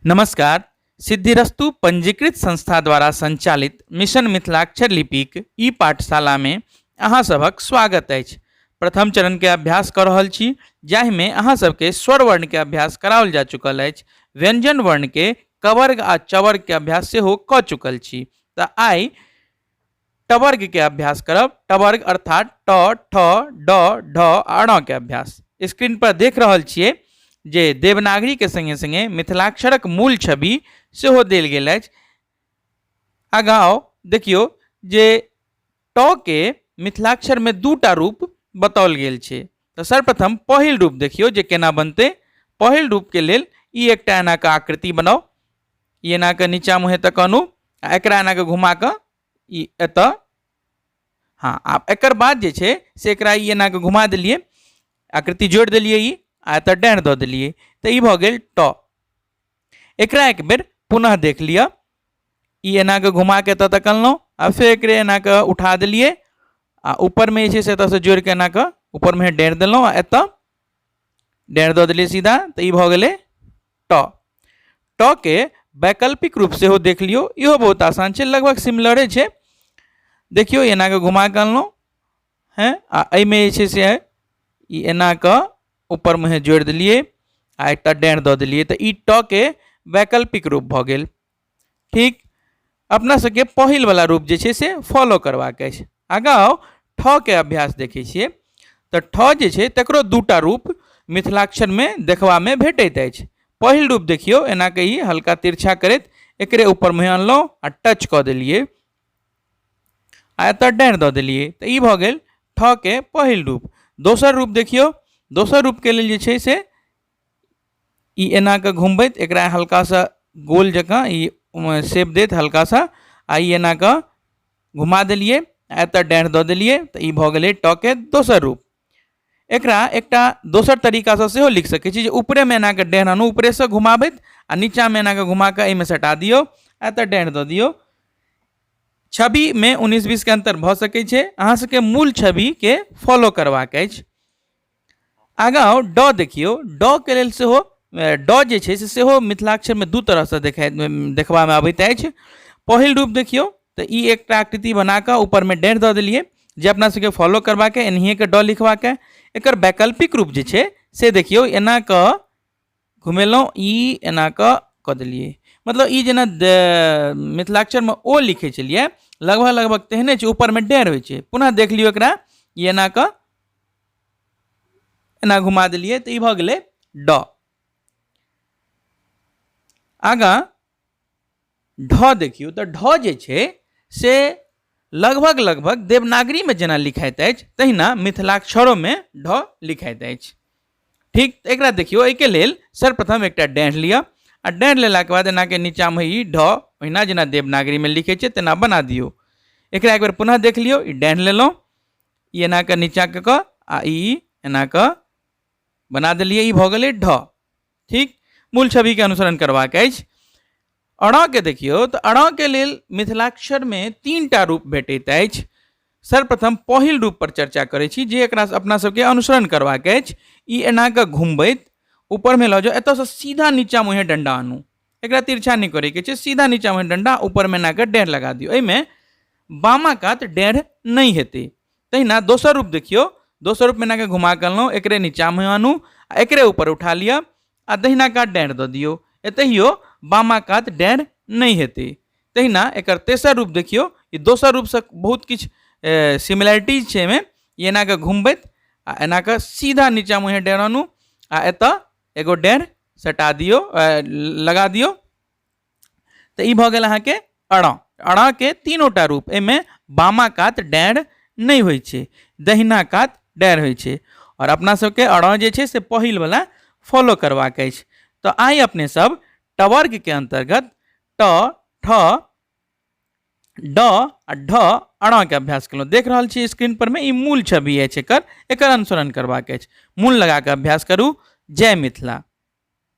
नमस्कार सिद्धिरस्तु पंजीकृत संस्था द्वारा संचालित मिशन मिथिलाक्षर लिपिक ई पाठशाला में अहाँ सभक स्वागत अछि प्रथम चरण के अभ्यास कर रहल छी जाहि में अहाँ सबके स्वर वर्ण के अभ्यास कराओल जा चुकल अछि व्यंजन वर्ण के कवर्ग आ चवर्ग के अभ्यास सेहो क चुकल छी तऽ आइ टवर्ग के अभ्यास करब टवर्ग अर्थात ट ठ ड ढ अण के अभ्यास स्क्रीन पर देख रहल छियै जे देवनागरी के संगे संगे मिथिलाक्षरक मूल छवि सेहो देल गेल अछि आगाँ आउ देखियौ जे ट के मिथिलाक्षर में दूटा रूप बताओल गेल छै तऽ सर्वप्रथम पहिल रूप देखियौ जे केना बनतै पहिल रूप के लेल ई एकटा एना के आकृति बनाउ ई एना कऽ नीचा मुँह एतऽ कहनु आ एकरा एना कऽ घुमा कऽ ई एतऽ हँ आ एकर बाद जे छै से एकरा ई एना कऽ घुमा देलियै आकृति जोड़ि देलियै ई आ एतऽ डाँड़ दऽ देलियै तऽ ई भऽ गेल ट एकरा एक बेर पुनः देख लिअ ई एना कऽ घुमा कऽ एतऽ तक अनलहुँ आ फेर एकरे एना कऽ उठा देलियै आ ऊपरमे जे छै से एतऽसँ जोड़ि कऽ एना कऽ ऊपरमे डाँड़ देलहुँ आ एतऽ डाँड़ दऽ देलियै सीधा तऽ ई भऽ गेलै ट ट के वैकल्पिक रूप सेहो देख लियौ इहो बहुत आसान छै लगभग सिमिलरे छै देखियौ एना कऽ घुमा कऽ अनलहुँ हेँ आ एहिमे जे छै से ई एना कऽ ऊपरमे हे जोड़ि देलियै आ एकटा डाँड़ दऽ देलियै तऽ ई ट के वैकल्पिक रूप भऽ गेल ठीक अपना सबके पहिल वाला रूप जे छै से फॉलो करबाक अछि आगाँ आउ ठऽ के अभ्यास देखै छियै तऽ ठऽ जे छै तकरो दूटा रूप मिथिलाक्षरमे देखबामे भेटैत अछि पहिल रूप देखियौ एना के ई हल्का तिरछा करैत एकरे ऊपर मुँह अनलहुँ आ टच कऽ देलियै आ एतऽ डाँड़ि दऽ देलियै तऽ ई भऽ गेल ठऽ के पहिल रूप दोसर रूप देखियौ दोसर रूपके लेल जे छै से ई एना कऽ घुमबैत एकरा हल्का सा गोल जकाँ ई शेप देत हल्का सा आ ई एना कऽ घुमा देलियै आ एतय डाँढ़ि दऽ देलियै तऽ ई भऽ गेलै ट के दोसर रूप एकरा एकटा दोसर तरीकासँ सेहो लिख सकै छी जे ऊपरेमे एना कऽ डाँढ़ि आनू ऊपरेसँ घुमाबैत आ नीचाँमे एना कऽ घुमा कऽ एहिमे सटा दियौ आ एतय डाँढ़ि दऽ दियौ छविमे उन्नैस बीसके अन्तर भऽ सकै छै अहाँसभके मूल छविके फॉलो करबाक अछि आगाँ आउ ड देखियौ ड के लेल सेहो ड जे छै से सेहो मिथिलाक्षरमे दू तरहसँ देखा देखबामे अबैत अछि पहिल रूप देखियौ तऽ ई एकटा आकृति बना कऽ ऊपरमे डेढ़ दऽ देलियै जे अपना सबके फॉलो करबाक एनाहिए कऽ ड लिखबाक एकर वैकल्पिक रूप जे छै से देखियौ एना कऽ घुमेलहुँ ई एना कऽ कऽ देलियै मतलब ई जेना मिथिलाक्षरमे ओ लिखै छलियै लगभग लगभग तेहने छै ऊपरमे डेढ़ होइ छै पुनः देख लियौ एकरा ई एना कऽ एना घुमा देलियै तऽ ई भऽ गेलै ड आगाँ ढ देखियौ तऽ ढ जे छै से लगभग लगभग देवनागरीमे जेना लिखाइत अछि तहिना मिथिलाक्षरोमे ढ लिखाइत अछि ठीक तऽ एकरा देखियौ एहिके लेल सर्वप्रथम एकटा डैढ़ लिअ आ डैढ़ लेलाके बाद एनाके नीचाँमे ई ढ ओहिना जेना देवनागरीमे लिखै छै तेना बना दियौ एकरा एक बेर पुनः देख लियौ ई डैढ़ लेलहुँ ई एना कऽ नीचाँ कऽ कऽ आ ई एना कऽ बना देलियै ई भऽ गेलै ढ ठीक मूल छवि के अनुसरण करबाक अछि अड़ा के देखियौ तऽ अड़ा के लेल मिथिलाक्षर में तीन टा रूप भेटैत अछि सर्वप्रथम पहिल रूप पर चर्चा करै छी जे एकरा अपना सबके अनुसरण करबाक अछि ई एना कऽ घुमबैत ऊपर में लऽ जाउ एतऽ से सीधा नीचा मुँहे डंडा आनू एकरा तिरछा नहि करे के छै सीधा नीचा मुँहे डंडा ऊपर में एना कऽ डेढ़ लगा दियौ एहिमे बामा कात डेढ़ नहि हेतै तहिना दोसर रूप देखियौ दोसर रूप मैनाके घुमा कऽ अनलहुँ एकरे नीचाँमे आनू आ एकरे ऊपर उठा लिअ आ दहिना कात डाँड़ि दऽ दियौ एतहियो बामा कात डाँड़ि नहि हेतै तहिना एकर तेसर रूप देखियौ ई दोसर रूपसँ बहुत किछु सिमिलैरिटीज छै एहिमे ई एना कऽ घुमबैत आ एना कऽ सीधा नीचाँ मुँहे डाँड़ि आनू आ एतय एगो डाँड़ि सटा दियौ लगा दियौ तो ये भऽ गेल अहाँके अड़ अड़ के तीनोटा रूप एहिमे बामा कात डैर नहीं होइ छै दहिना कात डैर होइ छै और अपना सबके अड़ जे छै से पहिलवला फॉलो करबाक अछि तऽ आइ अपने सब टवर्गके अन्तर्गत ट ठ ड आ ढ अड़ा के अभ्यास केलहुँ देख रहल छी स्क्रीन पर में ई मूल छवि अछि एकर एकर अनुसरण करबाक अछि मूल लगा कऽ अभ्यास करू जय मिथिला